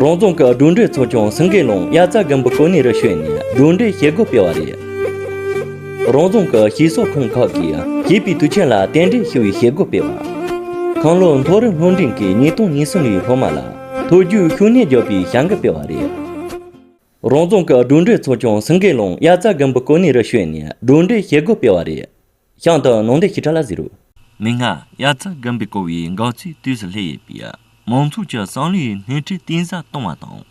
རོང་རྫོང་གི་སྒྲོལ་འདྲེ་ཚོ་ཀྱང་སེང་གེ་ལུང་དབྱར་རྩྭ་དགུན་འབུ་གོ་གནས་རུ་བྱོན་ནས་སྒྲོལ་འདྲེའི་བྱེད་སྒོ་སྤེལ་བ་རེད། རོང་རྫོང་གི་ཞིང་ཟོག་ཁང་ཁག་གིས་བྱིས་པའི་དུས་ཆེན་ལ་རྟེན་འབྲེལ་ཞུ་བའི་བྱེད་སྒོ་སྤེལ་བ། ཁང་ལོའི་མཐོ་རིམ་སློབ་འབྲིང་གི་ཉིས་སྟོང་ཉིས་གསུམ་ཡུལ་སློབ་མ་ལ་ཐུགས་རྒྱུའི་ཤུགས་སྣོན་རྒྱག་པའི་བྱ་འགུལ་སྤེལ་བ་རེད། རོང་རྫོང་གི་སྒྲོལ་འདྲེ་ཚོ་ཀྱང་སེང་གེ་ལུང་དབྱར་རྩྭ་དགུན་འབུ་གོ་གནས་རུ་བྱོན་ནས་སྒྲོལ་འདྲེའི་བྱེད་སྒོ་སྤེལ་བ་རེད། ཤངས་སྟག་ནོངས་ལྡེ་ཞི་ཁྲ་ལ་བཟི་རུ། མི་སྔ་དབྱར་རྩྭ་སྒམ་པའི་ཀོ་བའི་འགག་རྩའི་དུས་སུ་སླེ་ཡོད་པས་མང་ཚོགས་ཀྱི་སང་ལོའི་སྣེ་ཁྲིད་གཏིང་ཟབ་གཏོང་བ་དང།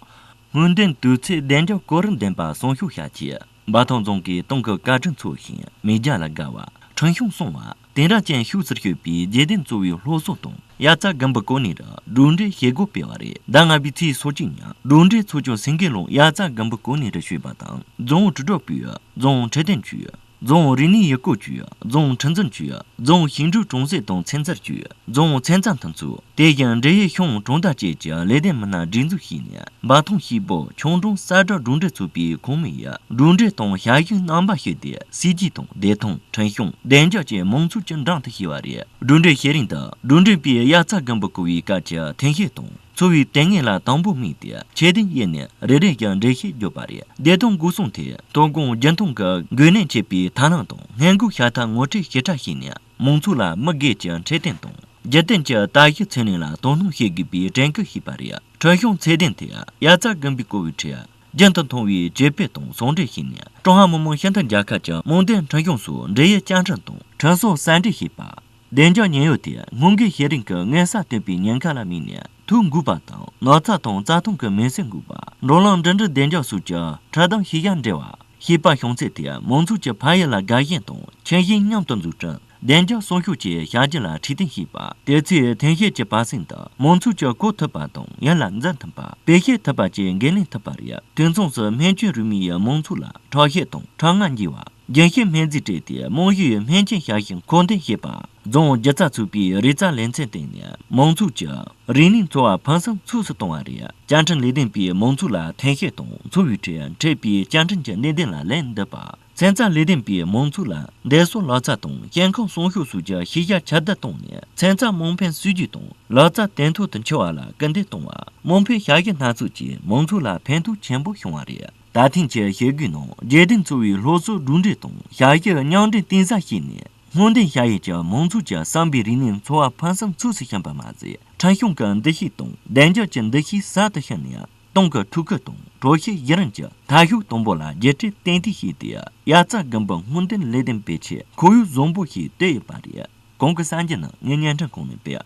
སྔོན་ཐོན་དུས་ཚོད་བདེ་འཇགས་གོ་རིམ་ལྡན་པ་སྲུང་ཤོག་བྱ་ཆེད་འབའ་ཐང་རྫོང་གིས་ཏང་གི་བཀའ་དྲིན་ཚོར་ཞིང་མི་རྒྱ་ལ་དགའ་བ། ཁྲིན་ཤང་སྲུང་བ། དེང་རབས་ཅན་ཤུགས་ཆེར་སྤྱོད་པའི་རྗེས་བརྟེན་གཙོ་བོའི་སློབ་གསོ་དང་དབྱར་རྩྭ་སྒམ་པའི་ཀོ་ནི་རུ་གྲུབ་འབྲས་བྱེད་སྒོ་སྤེལ་བ་རེད་ཟླ་ལྔ་པའི་ཚེས་སོ་གཅིག་ཉིན་གྲུབ་འབྲས་ཚོགས་ཆུང་སེང་གེ་ལུང་དབྱར་རྩྭ་སྒམ་པའི་ཀོ་ནི་རུ་ཞུས་པ་དང་རྫོང་ཨུ་དྲིལ་སྒྲོག་པུས་རྫོང་ཁྲི་བརྟན་ཆུས། རྫོང་རིག་གནས་ཡུལ་སྐོར་ཅུས་རྫོང་ཁྲིམས་འཛིན་ཅུས་རྫོང་ཞིང་འབྲོག་གྲོང་གསེབ་དང་ཚན་རྩལ་ཅུས་རྫོང་ཚན་རྩལ་མཐུན་ཚོགས་དེ་བཞིན་འབྲེལ་ཡོད་ཤང་གྲོང་རྡལ་བཅས་ཀྱི་ལས་དོན་མི་སྣ་སྒྲིག་འཛུགས་བྱས་ནས་འབའ་ཐང་ཤིས་པོ་ཆུང་གྲོང་གསར་དྲ་གྲོང་སྡེ་ཚོགས་པའི་ཁོངས་མི་ཡི་གྲུབ་འབྲས་དང་ཞབས་ཞུའི་རྣམ་པ་ཞིག་སྟེ་སྲིད་ཇུས་དང་བདེ་ཐང་ཁྲིམས་སྐྱོང་བདེ་འཇགས་བཅས་མང་ཚོགས་ཀྱི་འགྲམ་དུ་ཞུགས་པ་རེད་གྲུབ་འབྲས་བཤད་རིང་དང་གྲུབ་འབྲས་པས་དབྱར་རྩྭ་དགུན་འབུ་བརྐོ་བའི་སྐབས་ཀྱི་ཐེངས་ཤིག་དང། འཚོ་བའི་དེ་སྔའི་ལ་དང་པོ་དམིགས་ཏེ་ཁྱད་ལྡན་དབྱེ་ནས་རེ་རེ་བཞིན་འགྲེལ་བཤད་བརྒྱུད་པ་རེད། བདེ་སྟོང་སྒོ་སྲུང་ཐད་དོ་དགོང་རྒྱུན་མཐོང་གི་འགོས་ནད་མཆེད་པའི་ཐ་ན་དང་ངན་སྒོས་ཤ་ཐག་ངོ་སྤྲད་ཞེ་དྲག་བྱས་ནས་མང་ཚོགས་ལ་མི་སྒེར་གྱི་འཕྲལ་བསྟུན་དང་རྒྱུན་གཏན་གྱི་ལྟ་བཞི་ཚུན་ལེན་ལ་དོ་སྣང་བྱེད་དགོས་པའི་དྲན་སྐུལ་བྱས་པ་རེད། ཁྲིད་གཞུང་ཚད་ལྡན་ཐད་དབྱར་རྩྭ་དགུན་འབུའི་བཀོལ་བའི་ཁྲོད་རྒྱུན་དུ་མཐོང་བའི་སྤྱོད་པའི་སྟངས་ཟུང་འབྲེལ་བྱས་ནས་ཀྲུང་ཧྭ་མི་དམངས་སྤྱི་མཐུན་རྒྱལ་ཁབ་ཀྱི་རྨོངས་དད་འཕྲིན་གཞུང་སོགས་འབྲེལ་ཡོད་བཅའ་ཁྲིམས་དང་ཁྲིམས་སྲོལ་གསལ་འགྲེལ་བྱས་པ། བདེ་འཇགས་ཉེན་གཡོལ་དེ་སྔོན་འགོག་བྱེད་རིང་གི་དངན་སར་སྟོན་པའི་ཉེན་ཁ་ལ་དམིགས་ནས་ཐུག་འགུགས་པ་དང་ནགས་ཚལ་དང་རྩྭ་ཐང་གི་མེ་ཟོན་འགུགས་པ་འགྲོ་ལམ་འགྲིམ་འགྲུལ་བདེ་འཇགས་སོགས་ཀྱི་ཁྲིད་སྟོན་ཤེས་བྱ་འབྲི་བ། ཤེས་དཔལ་བྱང་ཚད་དེ་མང་ཚོགས་ཀྱི་ཕ་ཡུལ་ལ་དགའ་ཞེན་དང་ཁྱིམ་ཞེན་མཉམ་དུ་འཛུགས་སྐྲུན་བདེ་འཇགས་སྲུང་སྐྱོབ་བཅས་བྱ་རྒྱུ་ལ་ཁྲིད་སྟོན་བྱེད་པ། དེ་ཚོས་ཐོན་སྐྱེད་ཀྱི་བར་གསེང་དུ་མང་ཚོགས་ཀྱིས་གོ་ཐུབ་པ་དང་ཡིད་ལ་འཛིན་ཐུབ་པ་བེད་སྤྱད་ཐུབ་པ་བཅས་འགན་ལེན་ཐུབ་པ་རེད་དུས་མཚུངས་སུ་སྨན་བཅོས་རུས་མིང་ཡིས་མང་ཚོགས་ལ་ཁྲག་ཤེད་དང་ཁྲག་རྔ་འགྱིང་བ། རྒྱལ་གཅེས་སྨན་རྩིས་སྤྲད་དེ་རྨོངས་གཞི་ཡོད་སྨན་ཅན་ཞབས་ཞུ་མཁོ་འདོན་བྱེད་པ། རྫོང་སྒྱུ་རྩལ་ཚོགས་པའི་རིག་རྩལ་ལེ་ཚན་སྟེང་ནས་མང་ཚོགས་ཀྱི་རིག་གནས་འཚོ་བ་ཕུན་སུམ་ཚོགས་སུ་གཏོང་བ། བཅའ་ཁྲིམས་ལས་དོན་པས་མང་ཚོགས་ལ་ཐེན་ཤེས་དང་འཚོ་བའི་ཁྲོད་འཕྲད་པའི་བཅའ་ཁྲིམས་ཀྱི་གནད་དོན་ལ་ལན་འདེབས་པ། ཚན་རྩལ་ལས་དོན་པས་མང་ཚོགས་ལ་འདས་གསོན་ལག་རྩལ་དང་སྐྱེ་ཁམས་སྲུང་སྐྱོབ་སོགས་ཀྱི་ཤེས་བྱ་ཁྱབ་གདལ་བཏང་ནས་ཚན་རྩལ་དམངས་ཕན་སྲིད་ཇུས་དང་ལག་རྩལ་བརྟན་ཐོག་ཏུ་འཁྱོལ་བ་ལ་སྐུལ་འདེད་བཏང་བ། དམངས་ཕན་བྱ་གཞག་སྣ་ཚོགས་ཀྱིས་མང་ཚོགས་ལ་ཕན་ཐོགས་ཆེན་པོ་བྱུང་བ་རེད། ད་ཐེངས་ཀྱི་བྱེད་སྒོའི་ནང་རྒྱལ་བསྟན་འཚོ་བའི་སློབ་གསོ་གྲུབ་འབྲས་དང་ཞྭ་ཤེལ་རྙིང་འབྲེལ་གཏིང་ཟབ་བྱས་ནས་སྔོན་ཐོན་ཤྭ་ཡི་ཆེ་མང་ཚོགས་ཀྱི་བསམ་པའི་རིག་གནས་འཚོ་བ་ཕུན་སུམ་ཚོགས་སུ་ཕྱིན་པ་མ་ཟད་ཁྲིམས་སྐྱོང་གི་འདུ་ཤེས་དང་བདེ་འཇགས་ཀྱི་འདུ་ཤེས་ཟབ་ཏུ་ཕྱིན་ནས་ཏང་གི་ཐུགས་ཁུར་དང་དྲོ་སྐྱིད་གཞི་རིམ་གྱི་འཐབ་ཕྱོགས་དང་པོ་ལ་རྒྱལ་ཁྲལ་ཏན་ཏིག་བྱས་ཏེ་དབྱར་རྩྭ་དགུན་འབུ་སྔོན་ཐོན་ལས་དོན་སྤེལ་ཆེད་ཁོར་ཡུག་བཟང་པོ་ཞིག་བཏོད་ཡོད་པ་རེད་གོང་གི་གསར་འགྱུར་ནང་ངས་བརྙན་འཕྲིན་ཁང་ནས་སྤེལ།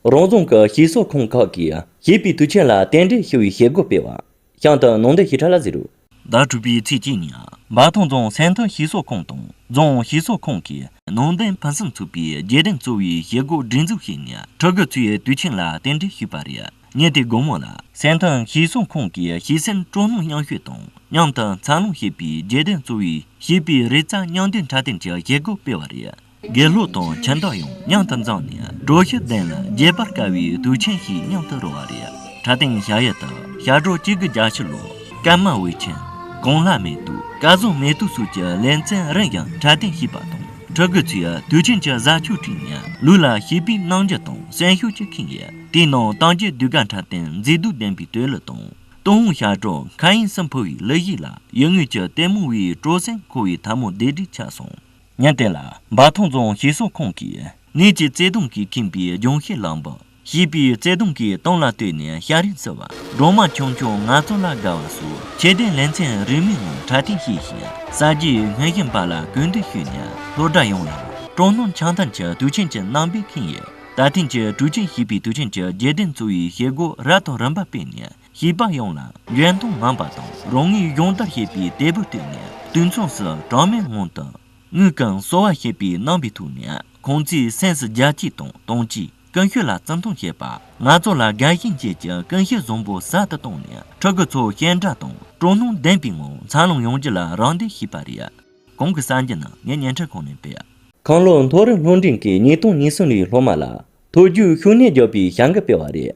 རང་རྫོང་གི་ཞིང་གསོ་ཁང་ཁག་གིས་བྱིས་པའི་དུས་ཆེན་ལ་རྟེན་འབྲེལ་ཞུ་བའི་བྱེད་སྒོ་སྤེལ་བ། ཤང་དུ་ནང་དོན་ཞིབ་ཕྲ་ལ་གཟིགས་རོགས། ཟླ་དྲུག་པའི་ཚེས་གཅིག་ཉིན་འབའ་ཐང་རྫོང་ཟན་ཐུ་ཞིང་གསོ་ཁང་དང་རྫོང་ཞིང་གསོ་ཁང་གིས་ནང་དོན་ཕུན་སུམ་ཚོགས་པའི་རྒྱས་འགྲེམས་གཙོ་བོའི་བྱེད་སྒོ་སྒྲིག་འཛུགས་བྱས་ནས་ཕྲུ་གུ་ཚོའི་དུས་ཆེན་ལ་རྟེན་འབྲེལ་ཞུས་པ་རེད། ཉིན་དེའི་དགོང་མོ་ལ་ཟན་ཐུ་ཞིང་གསོ་ཁང་གི་བྱིས་སེམས་སྤྲོ་སྣང་མཉམ་ཞུགས་དང་མཉམ་དུ་འཚར་ལོངས་བྱེད་པའི་རྒྱས་འགྲེམས་གཙོ་བོའི་བྱིས་པའི་རེ་རྩ་མཉམ་འདེམས་འཕྲལ་བསྟུན་གྱི་བྱེད་སྒོ་སྤེལ་བ་རེད། དགེ་སློབ་དང་ཁྱིམ་བདག་ཡང་མཉམ་དུ་འཛོམས་ནས་གྲོ་བཞི་ལྡན་ལ་རྒྱས་པར་དཀའ་བའི་དུས་ཆེན་ཞིག་མཉམ་དུ་རོལ་བ་རེད་ད་ཐེངས་ཞག་ཡལ་དུ་ཞག་གྲོ་གཅིག་གི་རྒྱ་ཕྱི་ལོ་སྐར་མ་འོད་ཆེན་གོང་ལྷ་མེ་ཏུ་སྐལ་བཟང་མེ་ཏུ་སོགས་ཀྱི་ལེ་ཚན་རིང་ཞིང་འཕྲལ་བསྟུན་བྱས་པ་དང་ཕྲུ་གུ་ཚོས་དུས་ཆེན་གྱི་གཟའ་ཆོས་ཁྲིད་ནས་ལུས་ལ་ཞིབ་པའི་གནང་རྒྱུ་དང་གསོན་ཤུགས་ཀྱི་ཁེངས་ཡོད་དེའི་ནང་ཏང་གི་ཟློས་གར་འཁྲབ་སྟོན་མཛེས་སྡུག་ལྡན་པའི་སྟོད་གླུ་དང་ཏུན་ཧོང་ཞག་གྲོ་མཁའ་དབྱིངས་སུ་འཕུར་བའི་གླུ་གཞས་ལ་ཡུལ་དངོས་ཀྱི་ལྟད་མོ་བས་སྤྲོ་གསེང་འཁོར་བའི་ཐབས་མོ་བདེ་བདེ་ཆགས་སོང། ཉེར་བརྟན་ལ། འབའ་ཐང་རྫོང་ཞིང་ས་ཁང་གིས་ནས་ཀྱི་བརྩེ་དུང་གིས་ཁེངས་པའི་ལྗོངས་ཤེས་བླངས་པ། ཞེས་པའི་བརྩེ་དུང་གི་གཏམ་ལ་ལྟོས་ནས་ཤ་རིང་བསིལ་བ་སྒྲོལ་མ་ཆུང་ཆུང་ང་ཚོ་ལ་དགའ་བ་སོགས་ཁྱད་ལྡན་ལེ་ཚན་རིན་མེད་ངང་དྲ་སྟེང་བཤད་བཞིན་གསར་བརྗེའི་སྔོན་བཞིན་པ་ལ་གུས་འདུད་ཞུས་ནས་སློབ་གྲྭ་ཡོངས་ལ་སྤྲོ་སྣང་འཆང་ཐང་གི་དུས་ཆེན་གྱི་རྣམ་པས་ཁེངས་ཡོད། ད་ཐེངས་ཀྱི་དུས་ཆེན་ཞེས་པའི་དུས་ཆེན་གྱི་རྒྱལ་བསྟན་གཙོ་བོའི་བྱེད་སྒོ་རབ་དང་རིམ་པ་སྤེལ་ནས་ཞེས་པ་ཡོངས་ལ་ཡོན་དང་ངང་པ་དང་རང་ངོས་སྦྱོང་བརྡར་བྱེད་པའི་དལ་བུར་བཏོན་ནས་དུས་མཚུངས་སུ་གྲངས་མེད་ངང་དུ། དངུལ་ཁང་གསོ་བ་ཞེས་པའི་རྣམ་པའི་ཐོག་ནས་ཁོང་ཚོའི་སེམས་སུ་རྒྱལ་གཅེས་དང་དམ་གཅེས་ཀུན་སྤྱོད་ལ་བརྩི་མཐོང་བྱེད་པ། ང་ཚོ་ལ་དགའ་ཞེན་བཅས་ཀྱི་ཀུན་སྤྱོད་བཟང་པོ་ཟབ་ཏུ་བཏང་ནས་ཕྲུ་གུ་ཚོ་ཞེན་དྲག་དང་སྤྲོ་སྣང་ལྡན་པའི་ངང་འཚར་ལོངས་ཡོང་རྒྱུ་ལ་རམ་འདེགས་བྱས་པ་རེད། གོང་གི་གསར་འགྱུར་ནི་ངས་བརྙན་འཕྲིན་ཁང་ནས་སྤེལ། ཁང་ལོ་མཐོ་རིམ་སློབ་འབྲིང་གི་ཉིས་སྟོང་ཉེར་གསུམ་ལོའི་སློབ་མ་ལ་མཐོ་རྒྱུགས་ཤུགས་གནས་རྒྱག་པའི་བྱ་འགུལ་སྤེལ་བ་རེད།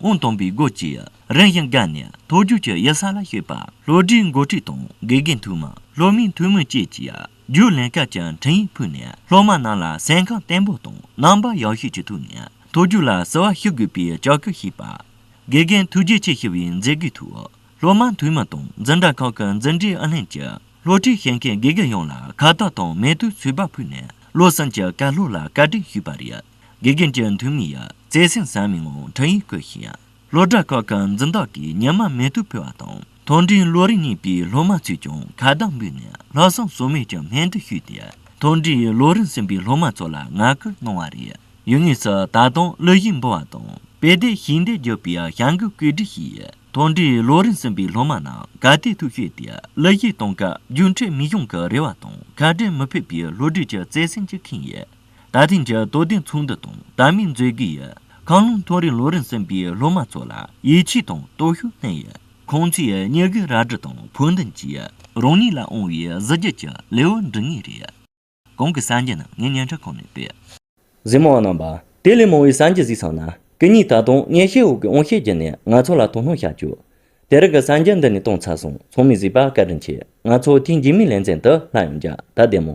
དབང་སྟོང་པའི་སྒོ་བཅས་རིམ་བཞིན་བཀག་ནས་མཐོ་རྒྱུགས་ཀྱི་གཡུལ་ས་ལ་བཤིག་པ་ལྷོ་སྒྲིག་མགོ་ཁྲིད་དང་དགེ་རྒན་ཐུགས་མ་ལྷོ་མིན་ཐུགས་སྨོན་བཅས་ཀྱིས་རྒྱུགས་ལེན་སྐབས་ཀྱི་འཕྲིན་ཡིག་ཕུལ་ནས་སློབ་མ་རྣམས་ལ་སེམས་ཁམས་བརྟན་པོ་དང་རྣམ་པ་ཡག་ཤོས་ཀྱི་ཐུགས་ནས་མཐོ་རྒྱུགས་ལ་བསུ་བ་ཞུ་དགོས་པའི་ལྕག་སྐུལ་བྱས་པ། དགེ་རྒན་ཐུགས་རྗེ་ཆེ་ཞུ་བའི་མཛད་སྒོའི་ཐོག་སློབ་མ་འཐུས་མི་དང་འཛིན་གྲྭ་ཁག་གི་འཛིན་གྲྭའི་ཨུ་ལྷན་གྱི་སློབ་ཁྲིད་བྱེད་མཁན་དགེ་རྒན་ཡོངས་ལ་ཁ་བཏགས་དང་མེ་ཏོག་ཚོས་པ་ཕུལ་ནས་བློ་སེམས་ཀྱི་བཀའ་སློབ་ལ་བཀའ་དྲིན་ཞུས་པ་རེད། དགེ་རྒན་གྱི་མཐུ་དངོས་ཡང་བརྩེ་སེམས་ཟབ་མོས་ངང་འཕྲིན་ཡིག་བཀོད་ཞིང། སློབ་གྲྭ་ཁག་གི་འཛིན་བདག་གིས་ཉི་མ་མེ་ཏོག་ཕུལ་བ་དང་མཐོ་འབྲིང་ལོ་རིམ་གཉིས་པའི་སློབ་མ་ཚོས་ཀྱང་ཁ་བརྡ་འབུལ་ནས་ལྷག་བསམ་ཟོལ་མེད་ཀྱི་སྨོན་འདུན་ཞུས་ཏེ་མཐོ་འབྲིང་ལོ་རིམ་གསུམ་པའི་སློབ་མ་ཚོ་ལ་ངག་སྐུལ་གནང་བ་རེད། ཡུལ་དངོས་སུ་ད་དུང་གླུ་གཞས་འབུལ་བ་དང་དཔེ་ལྟའི་ཞིང་སྡེ་བརྒྱུད་པའི་བྱ་འགུལ་བཀོད་སྒྲིག་བྱས། མཐོ་འབྲིང་ལོ་རིམ་གསུམ་པའི་སློབ་མ་རྣམས་ག་དུས་ཐུགས་ཞུས་ཏེ་གླུ་གཞས་གཏོང་སྐབས་རྒྱུ་འཕྲོད་མི་གཞུང་གི་རེ་བ་དང་ཁ་བྲལ་མི་ཕོད་པའི་ལྷོ་རྒྱུད་ཀྱི་བརྩེ་སེམས་ཀྱིས་ཁེངས་ཡོད། ད་ཐེངས་ཀྱི་དོ་བདེན་ཚོགས་འདུ་དང་དར་མིང་མཛོད་དགེ་ཡི་ཁང་ལུང་ཐུང་རིང་ལུང་རིང་སྲིན་པའི་སློབ་མ་ཚོ་ལ་ཡིད་ཆེས་དང་སྟོབས་ཤུགས་བསྣན་ཡོད། ཁོང་ཚོས་སྙི་གུའི་རལ་གྲི་དང་ཕུགས་འདུན་གྱིས་རང་ཉིད་ལ་དབང་བའི་གཟི་བརྗིད་ཀྱི་ལེའུ་འབྲི་ངེས་རེད། གང་གི་སངས་རྒྱས་ནི་ངའི་སྙན་གྲགས་ཁང་ནས་སྤེལ། གཟིགས་མང་རྣམ་པ། དེ་ལས་མང་བའི་སངས་རྒྱས་གཟིགས་ཚང་ན་གི་གཉིས་ད་དུང་སྙན་ཤལ་འོག་གི་དབང་ཤེད་བརྒྱུད་ནས་ང་ཚོ་ལ་དོ་སྣང་བྱ་བཅུག། དེ་རིང་གི་སངས་རྒྱས་འདི་ནས་གཏོང་ཚར་སོང་ཚང་མས་གཟིགས་པ་བཀའ་དྲིན་ཆེ་ང་ཚོ་ཐེངས་རྗེས་མའི་ལེ་ཚན་དུ་ལྷག་ཡོང་རྒྱ་ད་བདེ་མོ།